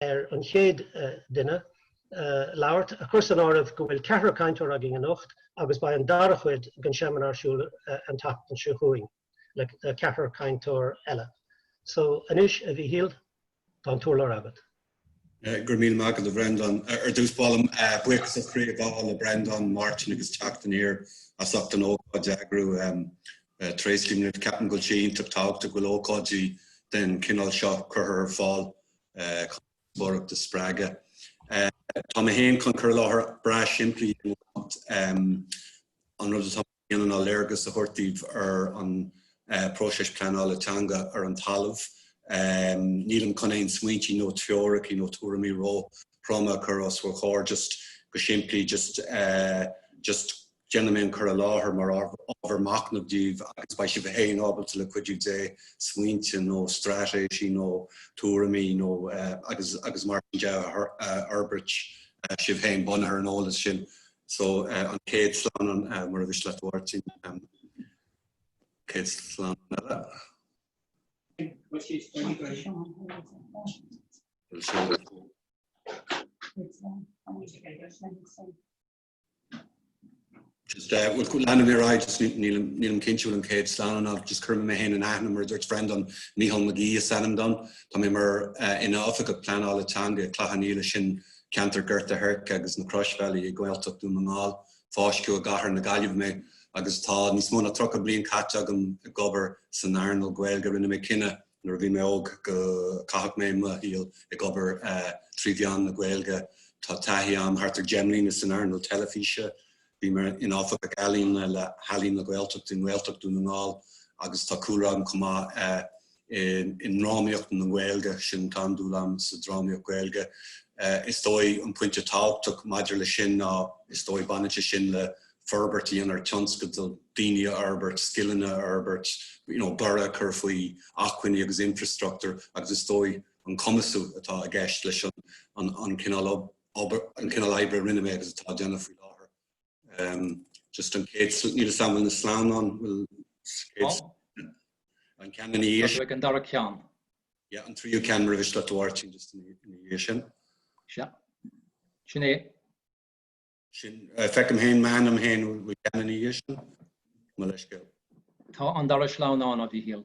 ar an chéad duine labhairt, a chur san áireamh go bhfuil ceathrar cainteoir againn anocht agus beidh an dara chuid den seimineár ar siúl an tseachtain seo chugainn le ceathrar cainteoir eile. So anois, a Mhíchíl, tá an t-urlár agat. Go raibh míle maith agat, a Bhreandán. Ar dtús, gabhaim buíochas ó chroí le Breandán, Máirtín agus Teacht Aniar as ucht an ócáid a eagrú. Tréaslaím libh, ceapaim go bhfuil sé iontach tábhachtach go bhfuil ócáidí den chineál seo curtha ar fáil díospóireacht a spreagadh. Tá mé féin chun cur i láthair breá simplí i nGaeltacht. An rud atá mé a dhéanamh ná léargas a thabhairt daoibh ar an próiseas pleanála teanga ar an talamh. Nílim chun aon smaointí nó teoiricí nó tuairimí ró-throma a chur os bhur gcomhair, just go simplí, just Déanfaidh mé an cur i láthair mar ábhar machnaimh daoibh agus beidh sibh féin ábalta, le cuidiú Dé, smaointe nó straitéisí nó tuairimí nó agus agus mar sin de a fhorbairt sibh féin bunaithe ar an eolas sin. So an chéad sleamhnán más é do thoil é a Mháirtín um, chéad sleamhnán eile. Thank you. just uh, well, leanfaidh mé ar aghaidh, just nílim cinnte bhfuil an chéad sleamhnán ná just cur mé féin in aithne mar dúirt Breandán Mícheál Mac Aoidh is ainm dom. Tá mé mar uh, ina oifigeach pleanála teanga Chloich Cheann Fhaola sin ceantar Ghort an Choirce agus na Croisbhealaí i nGaeltacht Dhún na nGall, fáisceadh i gcathair na Gaillimhe mé agus tá níos mó ná 30 bliain caite agam ag obair san earnáil Ghaeilge rinne mé cinneadh Nuair a bhí mé óg go gcaithfeadh mé mo shaol ag obair trí mheán na Gaeilge. Tá taithí agam thart ar 10 mbliana san earnáil teilifíse. Bhí mé i m'Oifigeach Ealaíne le hEalaín na Gaeltachta i nGaeltacht Dhún na nGall agus tá cúlra agam chomh maith i ndrámaíocht na Gaeilge, sin tá an-dúil agam sa drámaíocht Ghaeilge. Is dóigh an pointe tábhachtach maidir leis sin ná is dóigh baineann sé sin le forbairt a dhéanamh ar tionscadail, daoine a fhorbairt, scileanna a fhorbairt, you know borradh a chur faoi acmhainní agus infreastruchtúr agus is dóigh an cumasú atá i gceist leis an an cineál obair, an cineál oibre a rinne mé agus atá á dhéanamh faoi láthair. Um, just an chéad níl, an bhfuil na sleamhnáin an bhfuil an ceann ina dhiaidh an dara ceann. Yeah an tríú ceann más é do thoil é a Mháirtín just ina dhiaidh sin? Sea. Sin é Sin, feicim féin, m'ainm féin fós an ceann ina dhiaidh sin, mo leithscéal. Tá an dara sleamhnán, a Mhichíl.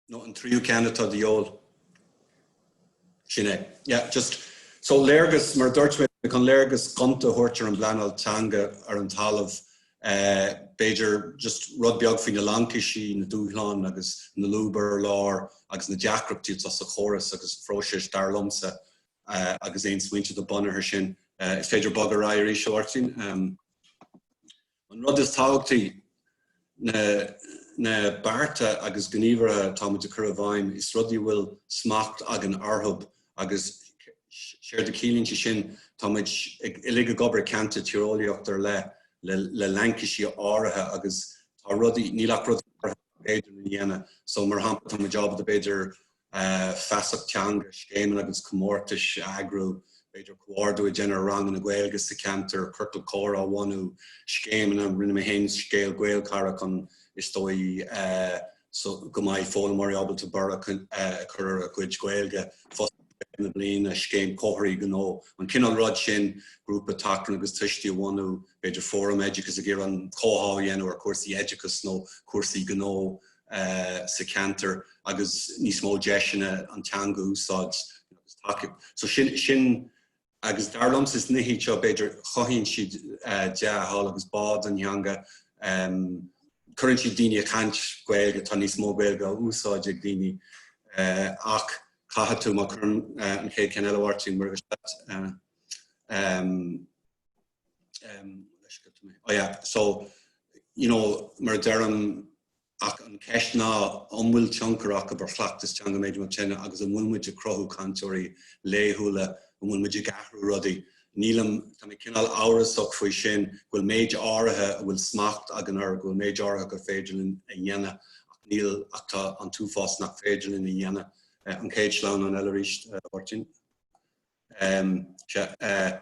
Nó an tríú ceann atá de dhíobháil. Sin é. Yeah, just, so, léargas, mar a dúirt mé, chun léargas gonta a thabhairt ar an bpleanáil teanga ar an talamh, b'fhéidir, just, rud beag faoi na laincisí, na dúshláin agus na lúba ar lár agus na deacrachtaí atá sa chóras agus sa phróiseas, dar liomsa, agus aon smaointe do bunaithe sin. Is féidir bogadh ar aghaidh arís, a Mháirtín. An rud is tábhachtaí ná na bearta agus gníomhartha atá muid ag cur i bhfeidhm is rudaí a bhfuil smacht againn orthu agus séard a chiallaíonn sé sin tá muid uilig ag obair i gceantar tíreolaíochta ar leith le le laincisí áirithe agus tá rudaí, níl ach rudaí áirithe is féidir a dhéanamh. So mar shampla tá muid ábalta b'fhéidir feasacht teanga, scéimeanna agus comórtais a eagrú, b'fhéidir comhordú a dhéanamh ar ranganna Gaeilge sa cheantar, ciorcal comhrá a bhunú, scéimeanna, rinne mé féin scéim Gaelchara chun is dóigh go mbeidh foghlaimeoirí ábalta borradh a chur ar a gcuid Gaeilge fosta. tréimhse na bliana, scéim comharthaí gnó, an cineál rud sin, grúpa tacaíochta do thuistí a bhunú, b'fhéidir fóram oideachais ag iarraidh comhtháthú a dhéanamh ar chúrsaí oideachais nó cúrsaí gnó sa cheantar, agus níos mó deiseanna an teanga a úsáid agus tacaíocht. So sin, sin Agus dar liomsa, is nithe iad seo, b'fhéidir, cothaíonn siad dea-thoil agus bá don theanga, cuireann siad daoine ag caint Gaeilge, tá níos mó Gaeilge á úsáid ag daoine. Ach caithfidh tú, má chuireann tú an chéad cheann eile a Mháirtín, mar a bhí sé leat, ó yeah, so, you know, mar a deirim, Ach an cheist ná an bhfuil tionchar acu ar chleachtas teanga an duine agus an bhfuil muid ag cruthú cainteoirí laethúla, an bhfuil muid ag athrú rudaí? Nílim, tá mé cineál amhrasach faoi sin, go bhfuil méid áirithe a bhfuil smacht againn air, go bhfuil méid áirithe gur féidir linn a dhéanamh ach níl, ach tá an t-uafás nach féidir linn a dhéanamh. An chéad sleamhnán eile arís, a Mháirtín. Sea.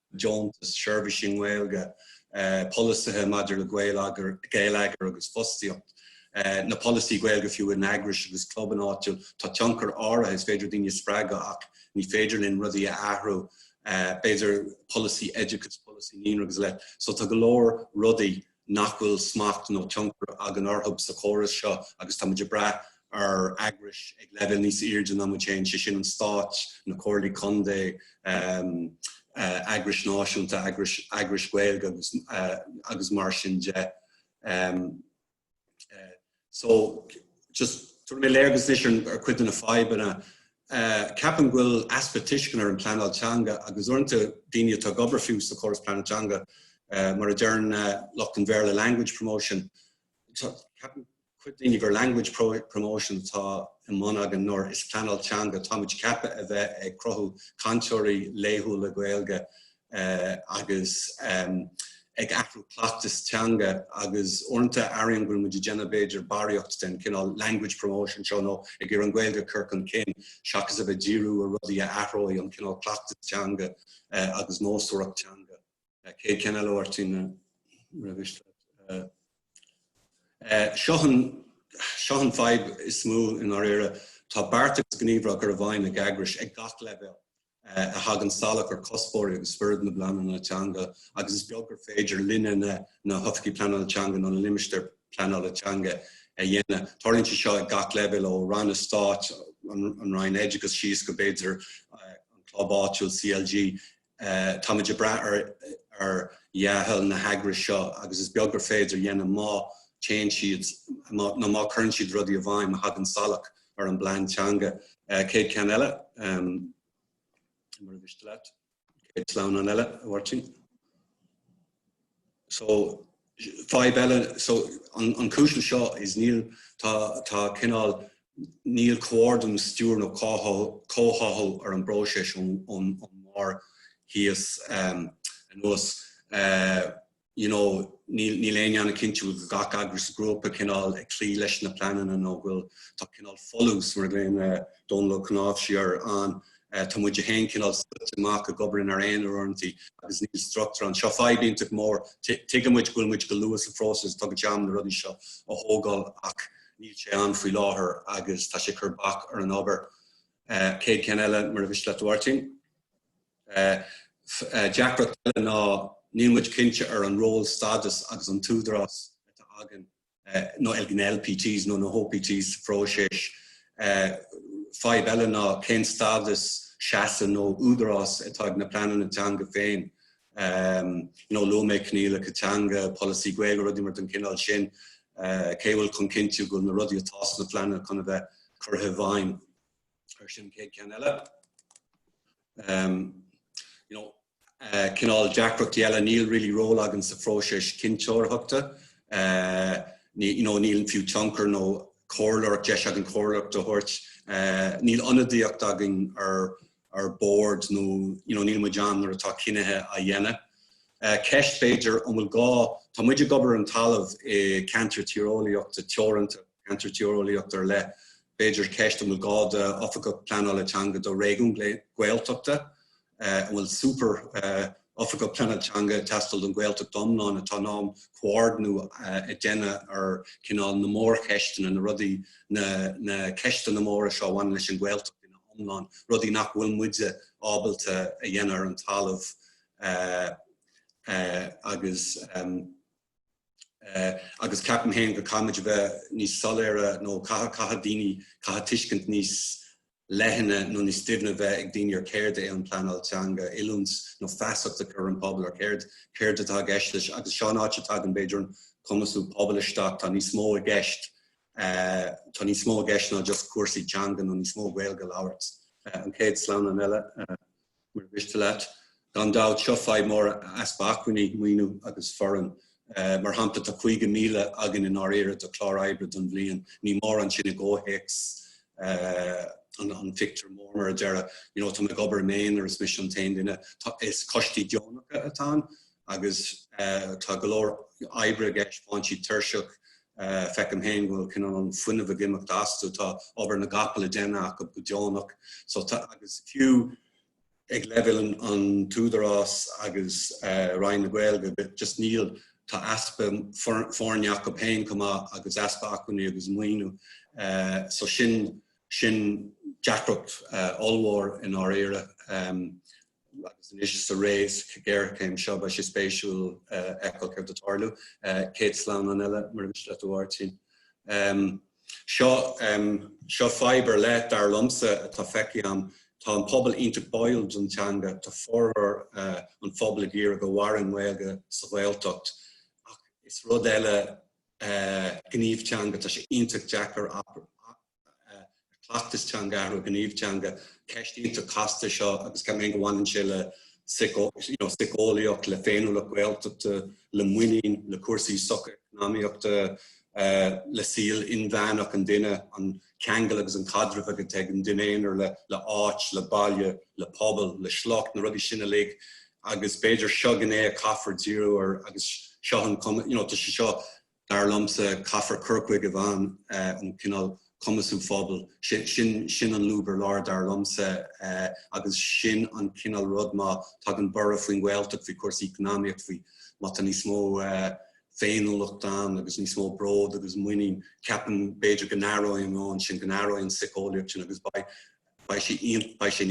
deontais, seirbhísí i nGaeilge, polasaithe maidir le geilleagar agus fostaíocht, nó polasaí Gaeilge fiú, in eagrais agus clubanna áitiúla. Tá tionchar áirithe, is féidir daoine a spreagadh ach ní féidir linn rudaí a athrú, b'fhéidir polasaí oideachais, polasaí naíonra agus a leithéid. So tá go leor rudaí nach bhfuil smacht nó tionchar againn orthu sa chóras seo agus táimid ag brath ar eagrais ag leibhéal níos airde ná muid féin, sé sin an stát, na comhairlí contae, eagrais náisiúnta, eagrais Ghaeilge agus mar sin de. So, just tabharfaidh mé léargas anois ar chuid de na fadhbanna. Ceapaim go bhfuil easpa tuisceana ar an bpleanáil teanga agus uaireanta daoine atá ag obair fiú sa chóras pleanáil teanga, mar a deireann lucht an Bhéarla language promotion. Ceapann cuid daoine gur language promotion atá ar bun againn nuair is pleanáil teanga atáimid ceaptha a bheith ag cruthú cainteoirí laethúla Gaeilge agus ag athrú cleachtas teanga agus uaireanta airím go raibh muid ag déanamh b'fhéidir barraíocht den chineál language promotion seo nó ag iarraidh an Ghaeilge a chur chun cinn seachas a bheith ag díriú ar rudaí a athróidh an cineál cleachtas teanga agus nósmhaireacht teanga. Céad ceann eile, a Mháirtín, mura mhiste leat. Seo an fhadhb is mó i ndáiríre, tá beart agus gníomh á gcur i bhfeidhm ag eagrais ag gach leibhéal a thagann salach ar chuspóirí agus spiorad na bpleananna teanga agus is beag gur féidir linne na hOifigigh Pleanála Teanga nó na Limistéir Pleanála Teanga a dhéanamh. Tarlaíonn sé seo ag gach leibhéal ó ranna stáit, an Roinn Oideachais síos go b'fhéidir an club áitiúil CLG. Tá muid ag brath ar dhea-thoil na n-eagras seo agus is beag gur féidir a dhéanamh má téann siad nó má cuireann siad rudaí i bhfeidhm a thagann salach ar an bplean teanga. Céad ceann eile, mura mhiste leat, céad sleamhnán eile, a Mháirtín. So, fadhb eile, so, an, an cúis seo is níl, tá, tá cineál, níl comhordú, stiúir nó comhtháthú ar an bpróiseas ón, ón, ón mbarr síos um, anuas. Uh, you know, níl, níl éinne ana-chinnte go bhfuil gach eagras, grúpa cineál ag cloí leis na pleananna nó go bhfuil, tá cineál folús, mar a ghlaonn Dónall Ó Cnáimhsí air, ann. Tá muid a haon, cineál, scoite amach ag obair inár n-aonar uaireanta agus níl structúr ann. Seo fadhb iontach mór. Tuigeann muid go bhfuil muid go luath sa phróiseas, tógann sé am na rudaí seo a thógáil ach níl sé ann faoi láthair agus tá sé ag cur bac ar an obair. Céad ceann eile mura mhiste leat a Mháirtín. Is deacracht eile ná níl muid cinnte ar an ról, stádas agus an t-údarás atá againn nó ag na LPTs nó na hOPTs sa phróiseas. Fadhb eile ná cén stádas, seasamh nó údarás atá ag na pleananna teanga féin. Luaigh mé coinníollacha teanga, polasaí Gaeilge, rudaí mar den chineál sin. Cé go bhfuil chun cinntiú go bhfuil na rudaí atá sna pleananna chun a bheith curtha i bhfeidhm? Sin an chéad cheann eile. Um, you know, uh, cineál deacrachtaí eile, níl really ról againn sa phróiseas cinnteoireachta. Uh, ní, you know, níl fiú tionchar nó comhairleoireacht, deis againn comhairleoireacht a thabhairt. Uh, níl ionadaíocht againn ar, ar bord nó, you know, níl muid ann nuair atá cinntí á ndéanamh. Uh, ceist b'fhéidir an bhfuil gá, tá muid ag obair ar an talamh i ceantair tíreolaíochta teoranta, ceantar tíreolaíocht ar leith, b'fhéidir, ceist an bhfuil gá le hOifigeach Pleanála Teanga do réigiún Gaeltachta, an bhfuil super Oifigeach Pleanála Teanga ag teastáil don Ghaeltacht iomlán atá in ann comhordnú a dhéanamh ar cineál na mórcheisteanna, na rudaí, na ceisteanna móra seo a bhaineann leis an Ghaeltacht ina hiomlán, rudaí nach bhfuil muide ábalta a dhéanamh ar an talamh agus. agus ceapaim féin go gcaithfimid a bheith níos soiléire nó caithfidh daoine, caithfidh tuiscint níos leithne nó níos doimhne bheith ag daoine ar céard é an pleanáil teanga, oiliúint nó feasacht a chur ar an bpobal ar céard, céard atá i gceist leis agus seo an áit a dtagann b'fhéidir an cumasú pobail isteach, tá níos mó i gceist, tá níos mó i gceist ná just cúrsaí teanga nó níos mó Gaeilge a labhairt. An chéad sleamhnán eile. Mura mhiste leat, gan dabht, seo fadhb mhór, easpa acmhainní, maoiniú agus foireann. Mar shampla, tá 50,000 againn i ndáiríre do chlár oibre don bhliain. Ní mórán é sin i gcomhthéacs an phictiúir mhóir, mar a déarfá, you know. Tá mé ag obair i m'aonar, is mise an t-aon duine, is coistí deonacha atá ann. agus tá go leor oibre ag is faigheann siad tuirseach, feicim féin go bhfuil cineál an fuinneamh ag imeacht astu, tá obair na gcapall á dhéanamh acu go deonach, so tá, agus fiú ag leibhéal an Údaráis agus Roinn na Gaeilge, just níl, tá easpa foirne acu féin chomh maith agus easpa acmhainní agus maoiniú, so sin, sin deacracht ollmhór i ndáiríre, agus anois tar éis na géarchéime seo beidh sé spéisiúil fheiceáil céard a tharlós. Céad sleamhnán eile, mura miste leat a Mháirtín. Seo, seo fadhb ar leith, dar liomsa, atá feicthe agam. Tá an pobal iontach báúil don teanga, tá formhór an phobail ag iarraidh go maireann an Ghaeilge sa Ghaeltacht, ach is rud eile gníomh teanga, tá sé iontach deacair an cleachtas teanga a athrú, an gníomh teanga, ceist iontach casta í seo agus ceapaim féin go mbaineann sé le síceolaíocht, le féiniúlacht Ghaeltachta, le muinín, le cúrsaí socheacnamaíochta, le saol inmheánach an duine, an ceangal agus an caidreamh atá ag an duine aonair le áit, le baile, le pobal, le sliocht, na rudaí sin uilig agus b'fhéidir seo gné a caithfear díriú ar agus seo an cuma, you know, tá sé seo Dar liomsa, caithfear cur chuige a bhaineann le cineál cumasú pobail, sin an lúb ar lár dar liomsa agus sin an cineál rud má tagann borradh faoin Ghaeltacht, faoi chúrsaí eacnamaíochta, faoi má tá níos mó féiniúlacht ann agus níos mó bród agus muinín, ceapaim b'fhéidir go n-athróidh an meon sin, go n-athróidh an tsíceolaíocht sin agus beidh beidh sé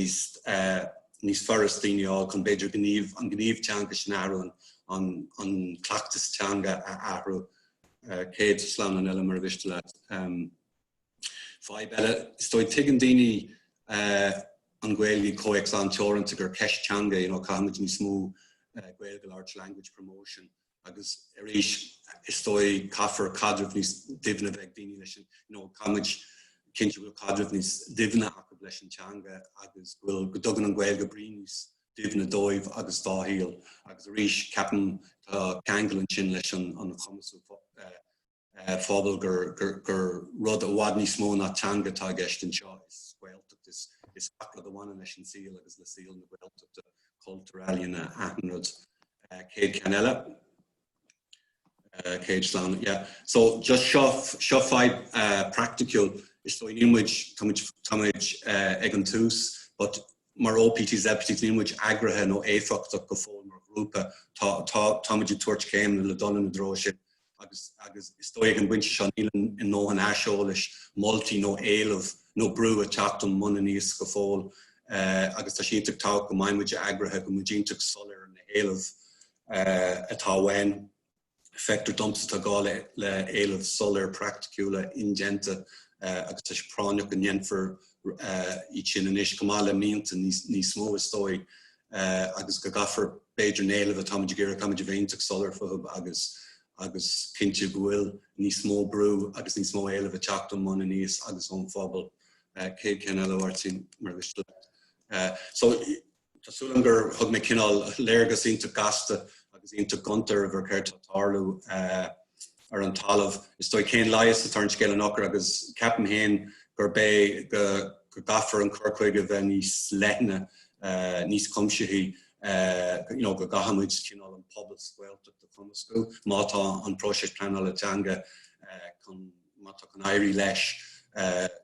níos furasta daoine a fháil chun b'fhéidir gníomh, an gníomh teanga sin a athrú, an cleachtas teanga a athrú. chéad sleamhnán eile murar mhiste leat. Fadhb eile, is dóigh, tuigeann daoine an Ghaeilge i gcomhthéacs an-teoranta gur ceist teanga, you know, caithfimid níos mó Gaeilge a labhairt, language promotion. agus arís, is dóigh, caithfear caidreamh níos doimhne a bheith ag daoine leis an, you know, caithfimid cinntiú go bhfuil caidreamh níos doimhne acu leis an teanga agus go bhfuil, go dtugann an Ghaeilge brí níos doimhne dóibh agus dá saol. Agus arís, ceapaim, tá ceangal ansin leis an chumasú phobal gur rud i bhfad níos mó ná teanga atá i gceist anseo, is Gaeltacht, is gach rud a bhaineann leis an saol agus le saol na Gaeltachta, cultúr, ealaíona, achan rud. Chéad cheann eile. Chéad sleamhnán, yeah. So just seo, seo fadhb practical, is dóigh níl muid, tá muid ag an tús, but Mar OPTs, CPTs níl muid eagraithe nó éifeachtach go fóill mar ghrúpa. Táimid ag tabhairt céimeanna le dul sa treo sin agus agus is dóigh ag an bpointe seo níl a ndóthain aiseolais, moltaí nó éileamh nó brú ag teacht ón mbun aníos go fóill agus tá sé iontach tábhachtach go mbeidh muid eagraithe, go mbeidh muid iontach soiléir ar na héilimh atá uainn. Feictear domsa tá gá le héileamh soiléir praiticiúla indéanta agus tá sé práinneach go ndéanfar iad sin anois chomh maith le mianta níos mó is dóigh agus go gcaithfear b'fhéidir na héilimh atáimid ag iarraidh táimid iontach soiléir fúthu agus agus cinntiú go bhfuil níos mó brú agus níos mó éileamh ag teacht ón mbun aníos agus ón phobal chéad cheann eile le do thoil, erm so Tá súil agam gur thug mé cineál léargas iontach gasta agus iontach gonta daoibh ar céard atá ag tarlú ar an talamh. Is dóigh cén leigheas atá ar an scéal i ndáiríre agus ceapaim féin gurb é go gcaithfear an cur chuige a bheith níos leithne, níos cuimsithí, you know, go gcaithfimid cineál an pobal sa Ghaeltacht a chumasú má tá an próiseas pleanála teanga chun Má tá chun éirí leis,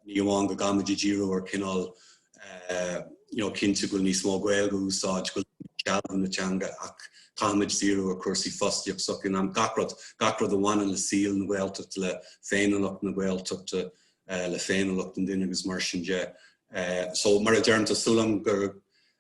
ní amháin go gcaithfimid díriú ar chineál you know cinntiú go bhfuil níos mó Gaeilge á húsáid, go bhfuil sealbhú na teanga, ach caithfimid díriú ar chúrsaí fostaíochta, sochaí, gach rud, gach rud a bhaineann le saol na Gaeltachta, le féiniúlacht na Gaeltachta, le féiniúlacht an duine agus mar sin de. So, mar a deirim, tá súil agam gur